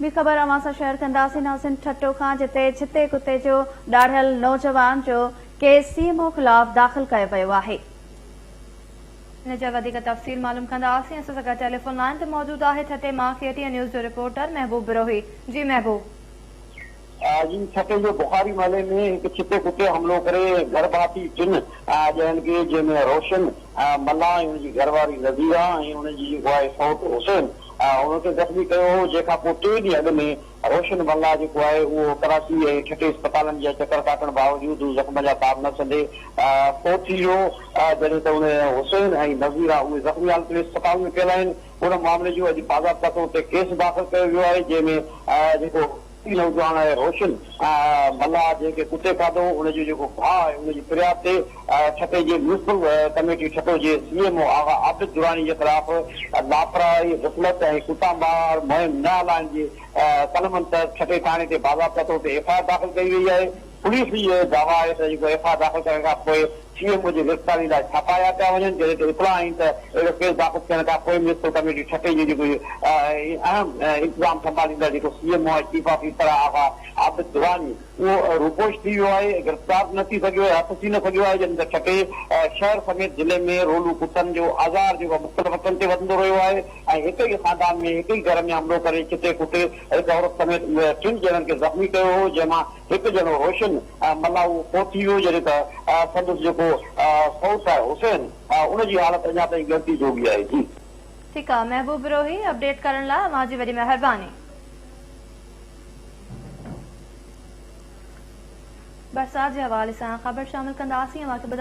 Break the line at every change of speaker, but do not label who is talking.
ٻي خبر اوهان سان شيئر ڪنداسين حسن ٺٽو کان جتي ڇتي ڪتي جو ڏاڙهيل نوجوان جو ڪيس سي ايم او خلاف داخل ڪيو ويو آهي. ان جا وڌيڪ تفصيل معلوم ڪنداسين اسان سان گڏ ٽيليفون لائين تي موجود آهي ٺٽي مان ڪي ٽي اين نيوز جو رپورٽر محبوب بروهي جي محبوب.
جي ڇٽي جو بخاري محلي ۾ هڪ ڇتي ڪتي حملو ڪري گهر ڀاتي ٽن ڄڻن کي جنهن ۾ روشن ملاح ۽ ان جي گهر واري نظيره ۽ ان جي جيڪو آهي سئوٽ حسين ان کي زخمي ڪيو هو جنهن کان پوء ٽي ڏينهن اڳ ۾ روشن ملاح جيڪو آهي اهو ڪراچي ۽ ٺٽي اسپتالن جا چڪر ڪاٽڻ باوجود هو زخم جا تاب نه سهندي فوت ٿي ويو جڏهن ته ان حسين ۽ نظيره اهي زخمي حالت ۾ اسپتال ۾ پيل آهن ان معاملي جو اڄ باضابطا طور تي ڪيس داخل ڪيو ويو آهي جنهن ۾ جيڪو نوجوان آهي روشن ملاح جنهن کي ڪتي کاڌو ان جو جيڪو ڀاء آهي ان جي فرياد تي ٺٽي جي ميونسپل ڪميٽي ٺٽو جي C M O Agha Abid Durrani جي خلاف لاپرواهي غفلت ۽ ڪتا مار مهم نه هلائڻ جي قلمن تحت ٺٽي ٿاڻي تي باضابطه طور تي ايف آء آر داخل ڪئي وئي آهي پوليس جي اهو دعويٰ آهي ته جيڪو ايف آء آر داخل ڪرڻ کان پوء سي ايم او جي گرفتاري لاء ڇاپا هيا پيا وڃن، جڏهن ته اطلاع آهين ته اهڙو ڪيس داخل ٿيڻ کان پوء ميونسپل ڪميٽي ٺٽي جي جيڪو اهم انتظام سنڀاليندڙ جيڪو C M O ۽ chief of F I R آهي عابد دراني اهو روپوش ٿي ويو آهي، گرفتار به نه ٿي سگهيو آهي، هٿ ٿي نه سگهيو آهي، جڏهن ته ٺٽي شهر سميت ضلعي ۾ رولون ڪتن جو آزار جيڪو مختلف وقتن تي وڌندو رهيو آهي ۽ هڪ ئي خاندان ۾ هڪ ئي گهر ۾ حملو ڪري چٽي ڪٽي هڪ عورت سميت ٽن ڄڻن کي زخمي ڪيو هو جنهن مان هڪ جهڙو روشن ۽ ملاؤ ڪو ٿي ويو جڏهن ته سندس جيڪو سئوٽ آهي حسين ان جي حالت اڃا تائين ڳڻتي جوڳي آهي جي. ٺيڪ آ محبوب
بروهي اپڊيٽ ڪرڻ لا اوهان جي وڏي مهرباني. برسات جي حوالي سان خبر شامل ڪنداسين اوهان کي ٻڌا.